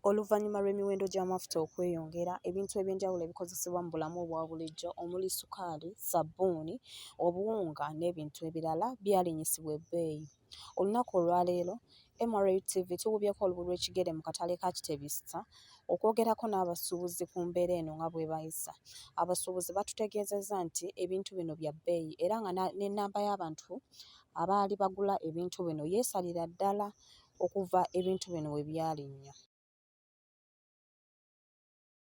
Oluvannyuma lw'emiwendo gy'amafuta okweyongera, ebintu eby'enjawulo ebikozesebwa mu bulamu obwa bulijjo omuli ssukaali, ssabbuuni, obuwunga n'ebintu ebirala byalinyisibwa ebbeeyi. Olunaku olwaleero, MRUTV tuwubyeko olugulu lw'ekigere mu katale ka Kitebi Sita okwogerako n'abasuubuzi ku mbeera eno nga bwebayisa. Abasuubuzi batutegeezezza nti ebintu bino bya bbeeyi era nga n'ennamba y'abantu abaali bagula ebintu bino yeesalira ddala okuva ebintu bino we byalinnya.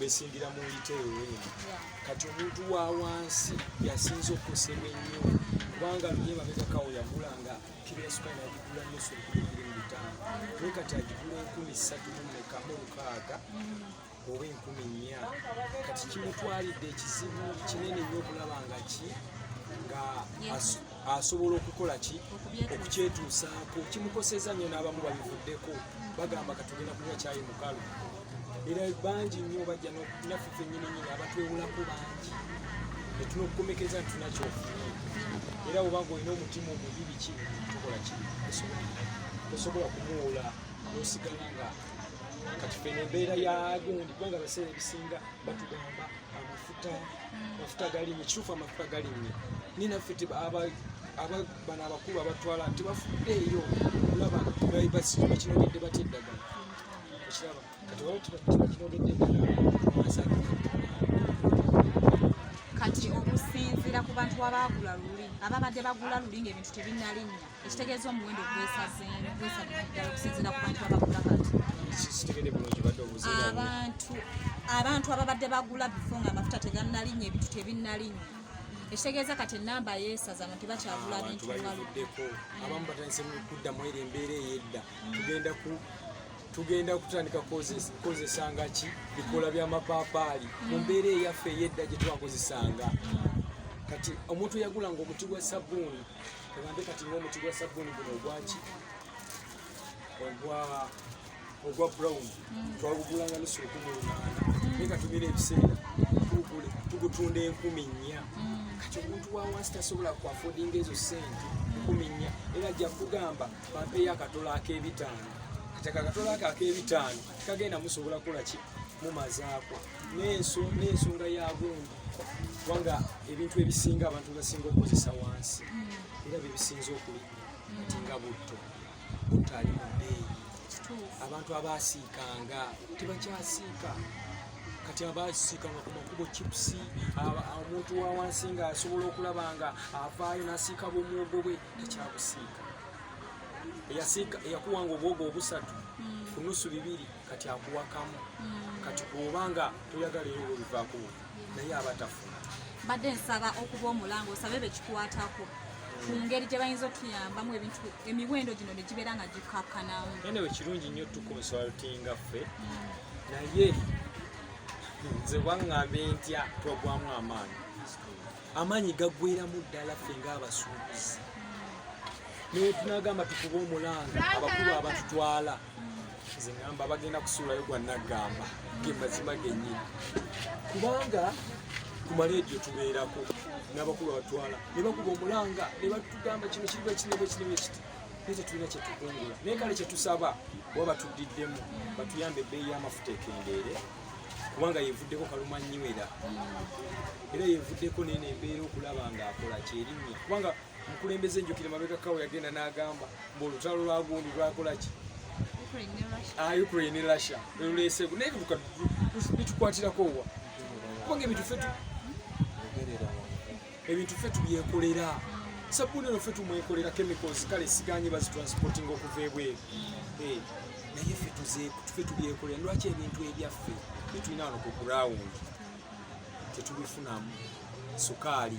besingira mu yiteewe kati omuntu wa wansi yasinza okukosebwa ennyo kubanga luye babegakawo yagula nga kiriyasuka nagigula nusu enkumi mu bitaano naye kati agigula enkumi ssatu mumekamu olukaaga oba enkumi nnya kati kimutwalidde ekizibu kinene nnyo okulaba nga ki nga asobola okukola ki okukyetuusaako kimukoseza nnyo n'abamu babivuddeko bagamba katugenda kunywa kyayi mukalu era bangi nnyo bajja naffe fennyininyini abatwewulako bangi netuna okukomekeza nti tunakyofunye era wobanga olina omutima omubi biki tukola ki osobola kumuwula nosigala nga kati fena embeera yagundi kubanga abaseera ebisinga batugamba amafuta amafuta galimu kituufu amafuta galimu ni naffe bano abakulu abatwala tebafudde eyo olaba basituka kinogedde batya eddagala ekiraba kati waba tuba kinogedde eddagala kati okusinziira ku bantu abaagula luli ababadde bagula luli ng'ebintu tebinalinnya ekitegeeza omuwendo gwesazengwesaddala okusinzira ku bantu abagula kati abantu abantu ababadde bagula bifo nga amafuta teganalinya ebintu tebinnalinya ekitegeeza kati enamba yesaza abantu tebakyagula bintu baluddeko abamu batandise kuddamu eri embeera eyedda tugenda ku tugenda kutandika kukozesanga ki bikola byamapaapaali mu mbeera eyaffe eyedda gyetwakozesanga kati omuntu yagulanga omuti gwa sabbuuni Ogambe kati ng'omuti gwa sabbuuni guno ogwaki ogwa ogwa brown mm. twagugulanga nusu ekumi lunaana mm. naye katumira ebiseera tugutunda enkumi nnya mm. kati omuntu wawansi tasobola kuafodinga ezo sente enkumi nnya era ajja kugamba bampeyo akatolo ak'ebitaano kati akakatolo ako ak'ebitaano kagenda musobola kukola ki mumazaako n'ensonga yabungi kubanga ebintu ebisinga abantu basinga okukozesa wansi hmm. era byebisinza okulinya ati nga butto butto ali mu bbeeyi abantu abaasiikanga tebakyasiika kati abasiikanga ku makubo chipusi omuntu wa wansi nga asobola okulaba nga avaayo nasiika bwomwogo bwe tekyabusiika eyakuwanga obwogo obusatu hmm. kunusu bibiri kati akuwakamu mm. kati kuoba nga toyagala eyo oluvako naye aba tafuna mbadde nsaba okuba omulanga osabe bekikwatako ku ngeri gye bayinza otuyambamu ebintu emiwendo gino ne gibeera nga gikakkanamu nanewe kirungi nnyo tukonsultinga ffe naye nze waŋŋambe ntya twagwamu amaanyi amaanyi gaggweramu ddala ffe ng'abasuubuzi naye tunagamba tukuba omulanga abakulu abatutwala nze ngamba bagenda kusuulayo gwa naggamba ge mazima gennyini kubanga ku maleediyo tubeerako n'abakulu abatwala ne bakuba omulanga ne batugamba kino kiriba kinebe kinebe kiti naye tetulina kyetukungula naye kale kyetusaba oba batuddiddemu batuyambe ebbeeyi y'amafuta ekendeere kubanga yevuddeko kaluma nnywera era yevuddeko nene embeera okulaba ng'akola kyerinnya kubanga mukulembeze njukire mabega kawo yagenda n'agamba mbu olutalo lwa gundi lwakola ki ukraine ne russia lweluleesegu naye luka bitukwatirako wa kubanga ebintu fe ebintu fe tubyekolera sabuni eno fe tumwekolera chemicals kale siganye bazitransporting okuva ebweru eh, naye fe tufe tubyekolera lwaki ebintu ebyaffe bitulina ano ku ground tetubifunamu sukaali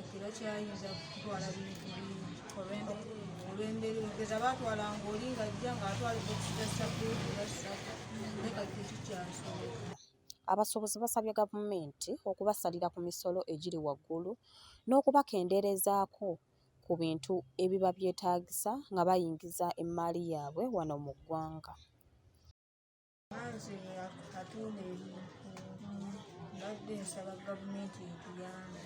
Ekiro kyayinza kutwala bintu bingi olw'embeera ogeza baatwala ng'oli ng'ajja ng'atwala ebokisi za sabuuni oba ssabu naye kati tekikyasoboka Abasuubuzi basabye gavumenti okubasalira ku misolo egiri waggulu n'okubakendeerezaako ku bintu ebiba byetaagisa nga bayingiza emmaali yaabwe wano mu ggwanga. Anze atunda ebintu mbadde nsaba gavumenti etuyambe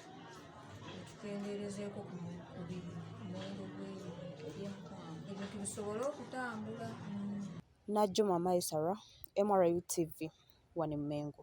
etukendeerezeeko ku muwendo gw'ebintu ebintu bisobole okutambula. Najjuma Maisara, MRU TV, wano e Mmengo.